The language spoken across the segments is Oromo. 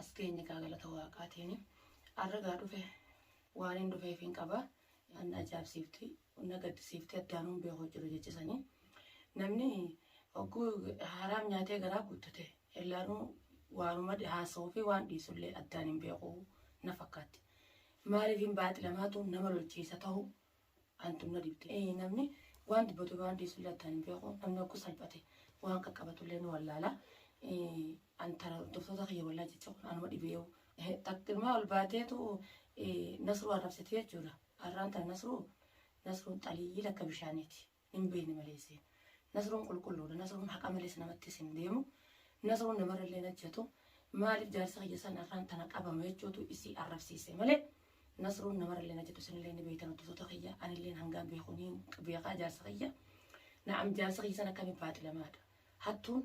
as geenye gaa galata waaqaatiini arra gaa dhufe waanin dhufeefiin qaba an na ajaa'ibsiifti na gaddisiifti addaan hin beeku jiru jechisanii namni hogguu haaraam nyaatee garaa guuttate illaanuu waanuma haasa'uu fi waan dhiisullee addaan hin beeku na fakkaatti maaliif hin baaxilamaatu nama lolchiisa ta'u antu na dhibde ee namni waan dubbatu waan dhiisu illee attaan hin beeku namni ogguu salphate waan qaqqabatu illee ni wallaala an tara hordoftoota kiyya wallaa jecha kun anuma dhibeewu takkimaa ol baateetu nasruu arrabsite jechuudha arraan tana nasruu nasruun xaliyyii lakka bishaaniiti. Hin beekne malee isiin. Nasruun qulqulluudha. Nasruun haqa malees namattis hin deemu. Nasruun namarrallee hin hajjatu. Maaliif jaarsa kiyya san irraan tana qabama jechuutu isii arrabsiise malee Nasruun namarrallee hin hajjatu isinillee ni beektan hordoftoota kiyya anilleen hangaan beeku ni beekaa jaarsa kiyya. Na'am jaarsa kiyya san akkamiin baaxilamaadha. Hattuun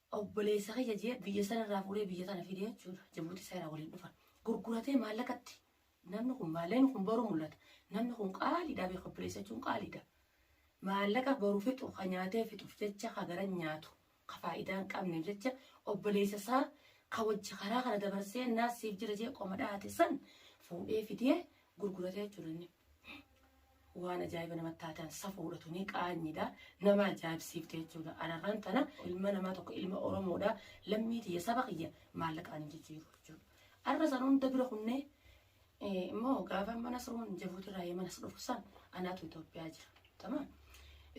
Obboleessa kiyya je'e biyya san irraa fuudhee biyya tana fide jechuudha. Jabuutii isaa irraa waliin dhufan. Gurguratee maallaqatti namni kun maallaqni kun boru mul'ata. Namni kun qaaliidha beeka obboleessa jechuun qaaliidha. Maallaqa boru fixu ka nyaatee fixuuf jecha ka garan nyaatu ka faayidaa hin qabneef jecha obboleessa isaa ka wajji karaa kana dabarsee naas siif jira jee qoma dhahate san fuudhee fidee gurguratee jechuudha inni. waan ajaa'iba namatti taatan safuudha tuni qaanyidha nama ajaa'ibsiifte jechuudha ararraan tana ilma namaa tokko ilma oromoodha lammii tiyya saba kiyya maallaqaan hin jijjiiru jechuudha arra san hunda bira kunnee immoo gaafa mana suruun jabuutirraa yee mana sudhufu san anaatu Itoophiyaa jira tamaa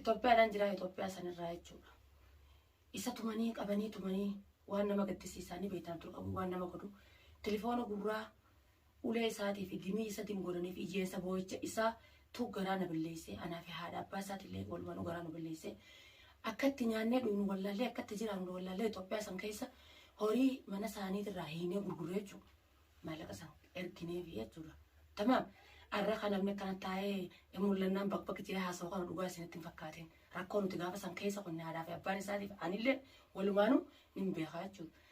Itoophiyaadhaan jira Itoophiyaa sanirraa jechuudha isa tumanii qabanii tumanii waan nama gaddisiisaanii beektaan ture qabu waan nama godhu tilifoona gurraa ulee isaatii fi dimii isatin godhanii fi iyeensa booyicha isaa tu garaa na balleessee anaa fi haadha abbaa isaatilee walumanuu garaa nu balleessee akka itti nyaannee dhugnu wallaallee akka itti jiraannu wallaallee Itoophiyaa san keessa horii mana isaaniit irraa hiinee gurgurree jechuu maallaqa san erginee fi jechuudha tamaam arra kan namni akkana taa'ee mul'annaan bakbak jee haasa'u kana dhugaa isinitti hin fakkaatiin rakkoo nuti gaafa san keessa qonne haadhaa fi abbaan isaatiif anillee walumaanuu nin beekaa jechuudha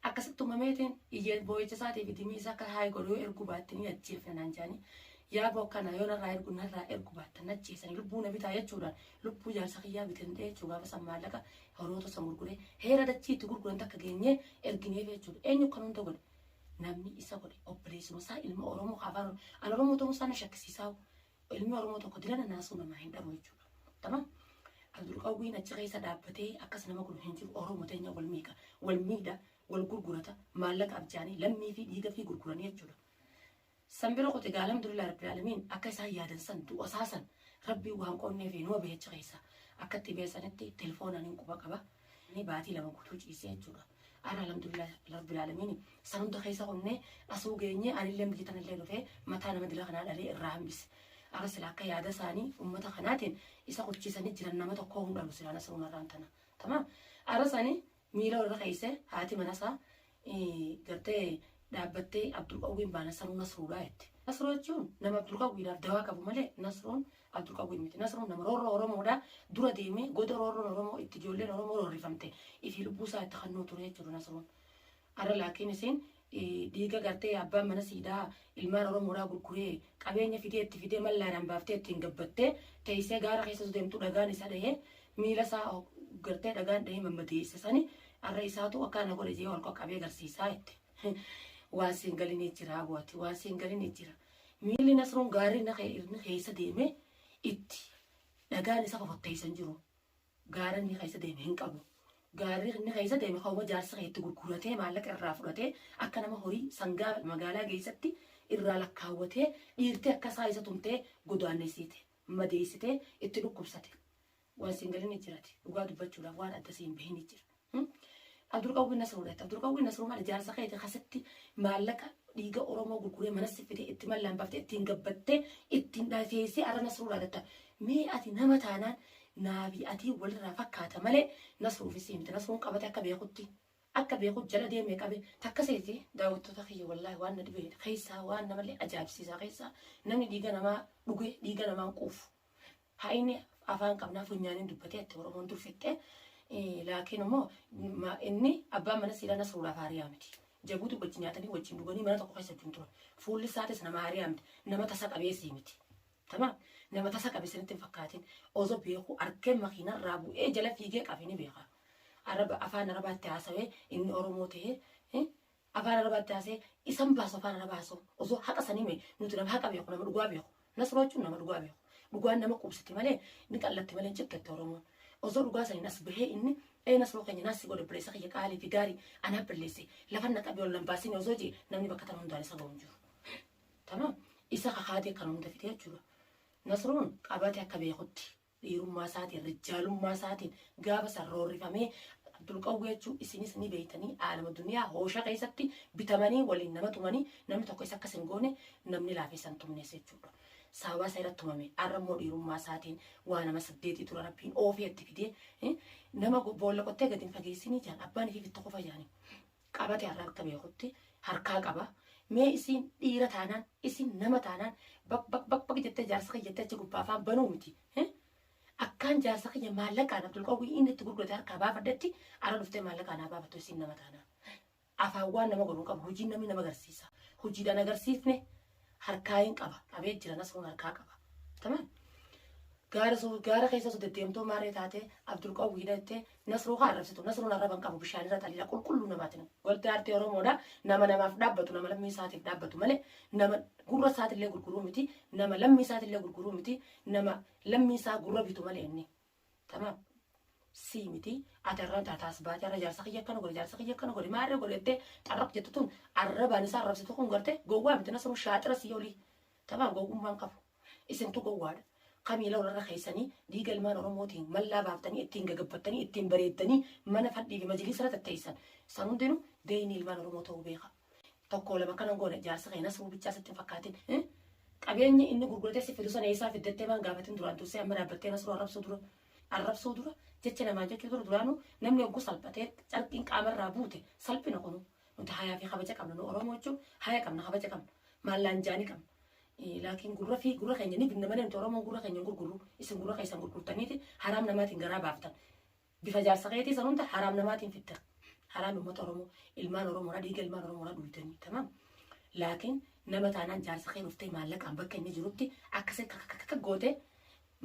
Akkasitti tumameetiin iyya boo'icha isaatii fi dimii isaa akka haayi godhu yoo erguu baatte ni ajjeefna naan jedhanii yaaboo akkanaa yoo narraa ergu narraa ergu baattan na ajjeesanii lubbuu na bitaa jechuudhaan lubbuu jaarsa kiyyaa bitan dhee jechuu gaafa san maallaqa horoota san gurguree heera dachii itti gurguran takka geenyee ergineef jechuudha eenyu kan hunda godhe namni isa godhe obboleessuma isaa ilma oromoo afaan an oromoo ta'uu isaa na shakkisiisaa Ilmi Oromoo tokko dilana naasuu namaa hin dhabu jechuudha. Tamam? Abdul Qawwiin achi keessa dhaabbatee akkas nama godhu hin jiru. Oromoo teenya wal miidha, wal miidha, wal gurgurata, maallaqa abjaanii, lammii fi dhiiga fi gurguranii jechuudha. San bira qote gaa alhamdulillah rabbil alamin akka isaan yaadan san du'a isaa san rabbii waan qoonnee fi numa beecha keessa akkatti beesanitti telefoonaan hin quba qaba. Ani baatii lama guutuu ciisee jechuudha. Arra alhamdulillah rabbil aalamiin san hunda keessa qonnee asuu geenyee anillee biyya tanallee dhufee mataa nama dila kanaa dhalee irraa hambise. Arra sila akka yaada isaanii ummata kanaatiin isa qubchiisanii jiran nama tokkoo hin dhalu silaa nasruun arraan tana. Tamaam. Arra sani miila irra keessee haati mana isaa gartee dhaabbattee Abdulqawwiin baa Nasruu Nasruudha jette. Nasruu jechuun nama Abdulqawwiidhaaf dawaa qabu malee Nasruun Abdulqawwiin miti. Nasruun nama roorroo Oromoodha dura deemee goda roorroon Oromoo itti ijoolleen Oromoo roorrifamte ifii lubbuu isaa itti kannuu ture jechuudha Nasruun. Arra laakiin isiin dhiiga gartee abbaan mana siidaa Ilmaan Oromoodhaa gurguree, qabeenya fidee itti fidee mallaadhaan baaftee ittiin gabbattee, teessee gaara keessa osoo deemtuu dhagaan isa dhahee, miila isaa gartee dhagaan dhahee mammadeesse sani har'a isaatu akkaa na godhe jedhee ol qaqqabee garsiisaa jette. Waan siin galinii jira aboo ati, waan siin galinii jira. Miilli Nasruun gaarri inni keessa deemee itti dhagaan isa fofotteessan jiru. Gaara inni keessa deeme hin qabu. Gaarri inni keessa deeme kanuma jaarsa kee itti gurguratee maallaqa irraa fudhatee akka nama horii sangaa magaalaa geessatti irraa lakkaawwatee dhiirtee akka isaa isa tumtee godaannessite, madeessitee, itti dhukkubsate. Waan si hin galinni jirati. Dhugaa dubbachuudhaaf waan adda si hin bahinni jira. Hmm? Abdulqawwii Nasruu dhatte. Abdulqawwii Nasruu mana jaarsa keetii keessatti maallaqa dhiiga Oromoo gurguree mana siffitee itti mallaan baftee ittiin gabbattee ittiin dhateessee arra Nasruu dhaadatta. Mee ati nama taanaan naafi atii walirraa fakkaata malee Nasruufi sii miti. Nasruun qabate akka beekutti. Akka beekut jala deemee qabe. Takka seeti daawwattoota kiyya wallaahi waan na dhibee keessaa waan namallee ajaa'ibsiisaa keessaa namni dhiiga namaa dhugee dhiiga namaan quufu. Haa inni afaan qabnaa funyaaniin dubbatee itti Oromoon dur fixxee laakiin immoo inni abbaan mana siiraa Nasruulaa Faariyaa miti. Jabuuti wajjin nyaatanii wajjin dhuganii mana tokko keessa wajjin turan. Fuulli isaatis nama Aariyaa miti. Nama tasa qabeessii miti. Tamaam nama tasa qabe sanitti hin fakkaatin. Ozo beeku argee makiinarraa bu'ee jala fiigee qafe ni beeka. Araba afaan arabaatti haasawee inni Oromoo ta'ee Afaan arabaa itti haasee isan baasu afaan arabaa haasa'u osoo haqa sanii mee nuti nama haqa beeku nama dhugaa beeku nasroo jechuun nama dhugaa beeku dhugaan nama qubsiti malee ni xallatti malee hin cikkette oromoon osoo dhugaa saniin as bahee inni ee nasroo keenya naassi godhe obboleessa kiyya qaalii fi gaarii anaaf balleesse lafa na qabi ol nan baasini osoo jee namni bakka tana hundaan isa ga'u hin jiru. Tamaam isa kakaatee kan hunda fitee jechuudha. Nasruun qabatee akka beekutti Dhiirummaa isaatiin, rijaalummaa isaatiin gaafa san roorrifamee Abdulqawwee jechuun isinis ni beeytanii aalama duniyaa hoosha keessatti bitamanii waliin nama tumanii namni tokko isa akka isin goone namni laafeessa hin tumnees jechuudha. Sababaa isa irratti tumame arra immoo dhiirummaa isaatiin waa nama saddeetii dura rabbiin oofee itti fidee nama boolla qottee gadi hin fageessinii jaan abbaan ifii fitta qofa jaanii. qabate har'a akka beekutti harkaa qaba. Mee isiin dhiira taanaan isin nama taanaan baq baq baq baq jettee jaarsa kiyya jettee achi gubbaa afaan banuu miti. eh? Akkaan jaarsa kiyya maallaqaan Abdulqawwii inni itti gurgurate harkaa baafadhetti ara dhuftee maallaqaan haa baafattu isin nama taanaan. Afaan waan nama godhu hin qabu hojiin namni nama agarsiisa. Hojiidhaan agarsiifne harkaa hin qaba qabee jira nasruun harkaa qaba tamam gaara soo gaara keessa osoo deddeemtoo maarree taatee abdul qawwi hidhattee nasruu haa arrabsitu nasruun arraba hin qabu bishaan irra xaliila qulqulluu namaati nama wanti aartii oromoodha nama namaaf dhaabbatu nama lammii isaatiif dhaabbatu malee nama gurra isaatillee gurguruu miti nama lammii isaatillee gurguruu miti nama lammii isaa gurra bitu malee inni Tamam. Sii miti ati arraan taataa as baate arra jaarsa kiyya akkana godhe jaarsa kiyya akkana godhe maa irra godhe jettee xarraq jettu tun arrabaan isaa arrabsitu kun gartee gowwaa miti nasruu shaaxira sii olii. Tamam gowwummaan qabu. Isintu gowwaadha. Kamiila warra keessanii dhiiga ilmaan Oromootiin mallaa baaftanii ittiin gagabbattanii ittiin bareeddanii mana fadhii fi majliisara tatteessan. San hundinuu beeyni ilmaan Oromoo ta'uu beeka. tokko lama kanan goone jaarsa kee nasruu bichaa sitti hin fakkaatin eh? qabeenyi inni gurguratee si fidu sana eessaa fiddattee maan gaafatin duraan dursee amma dhaabbattee nasruu arrabsuu dura arrabsuu dura jecha namaan jechuu dura duraanuu namni oggu salphatee carqiin qaamarraa buute salphina kunu nuti hayaa fi kabaja qabna nu oromoo jechuun haya qabna kabaja qabna maallaan jaanii qabna Eh, laakiin gurra fi gurra keenya ni binna malee nuti oromoon gurra keenya hin gurgurru isin gurra keessan gurgurtaniiti haraam namaatiin garaa baaftan Bifa jaarsa keetii san hunda haraam namaatiin fidda. Haraami ummata Oromoo. Ilmaan Oromoodhaa dhiiga ilmaan Oromoodhaa dhugdanii. Tamaam. Laakiin nama taanaan jaarsa kee dhuftee maallaqaan bakka inni jirutti akkasii kakakakaka goote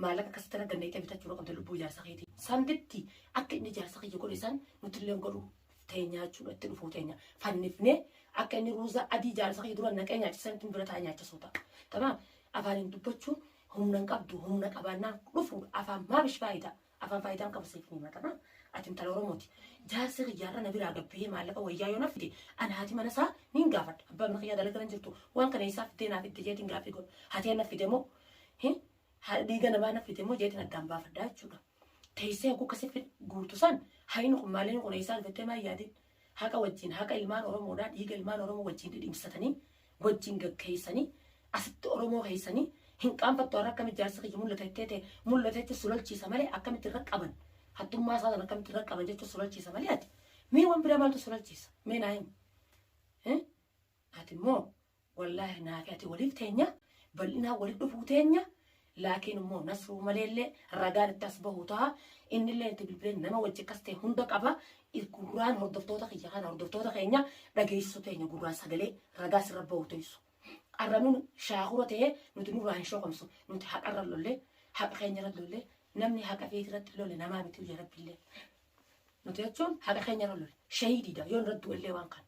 maallaqa akkasitti irra dandeettee bitachuudha qabda lubbuu jaarsa keetii. San bitti akka inni jaarsa kiyya godhe san nuti illee godhu teenyaa jechuudha itti dhufuu teenya. Fannifnee akka inni ruuza adii jaarsa kiyya dura naqee nyaachisan ittiin bira taa'ee nyaachisuu ta'a. Tamaam. Afaaniin dubbachuun humna hin qabdu humna qabaannaan dhufuudha afaan maabish faayidaa. Afaan faayidaa hin qabu siif hin himatama. Ati intala Oromooti. Jaarsa kiyyaarra na biraa gabbee maallaqa wayyaa yoo naaf fide ani haati mana isaa niin gaafadha. Abbaa mana kiyyaa dalagaa hin jirtu waan kana eessaa fiddee naaf fidde jeetiin gaaffii godhu. Hatee naaf fide moo hin ha- dhiiga namaa naaf fide moo jeetiin addaan baafadha jechuudha. Teessee hogguu akkasii fid- guurtu san hayni kun maaliin kun eessaa dhufattee maa yaadin. Haqa wajjin, haqa ilmaan Oromoodhaa dhiiga ilmaan Oromoo wajjin dhidhimsatanii, wajjin gaggeessanii, asitti Oromoo keessanii hin qaanfattu har'a akkamitti jaarsi kiyya mul'ata jettee tee mul'ata jechuun si lolchiisa malee akkamitti irra qaban hattummaa isaa sana akkamitti irra qaban jechuun si lolchiisa malee ati mee waan biraa maaltu si lolchiisa mee naa himi. Ati immoo Wallahi naafi ati waliif teenya bal'inaan walitti dhufuu teenya laakiin immoo nasruu maleellee ragaan itti as bahu ta'a innillee itti bilbilee nama wajji akkas ta'e hunda qaba gurraan hordoftoota kiyya kana hordoftoota keenya dhageessisuu teenya gurraan sagalee ragaa sirra bahu teessu arra nun shaakura ta'e nuti nurraa hin shokomsu nuti haqarra lollee haqa keenya irra lollee namni haqa feeti irratti lole namaa miti biyya rabbillee nuti jechuun haqa keenya irra lole shahiidiidha yoo irratti du'ellee waan kana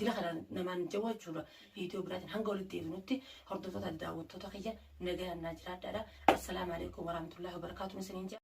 Dila kanaan namaan jawwa jechuudha. Viidiyoo biraatiin hanga walitti deebinutti hordoftoota daawwattoota kiyya nagayaan naa jiraadhaadha. Assalaamu alaikum warahmatullahi wabarakaatuun isiniin jaa.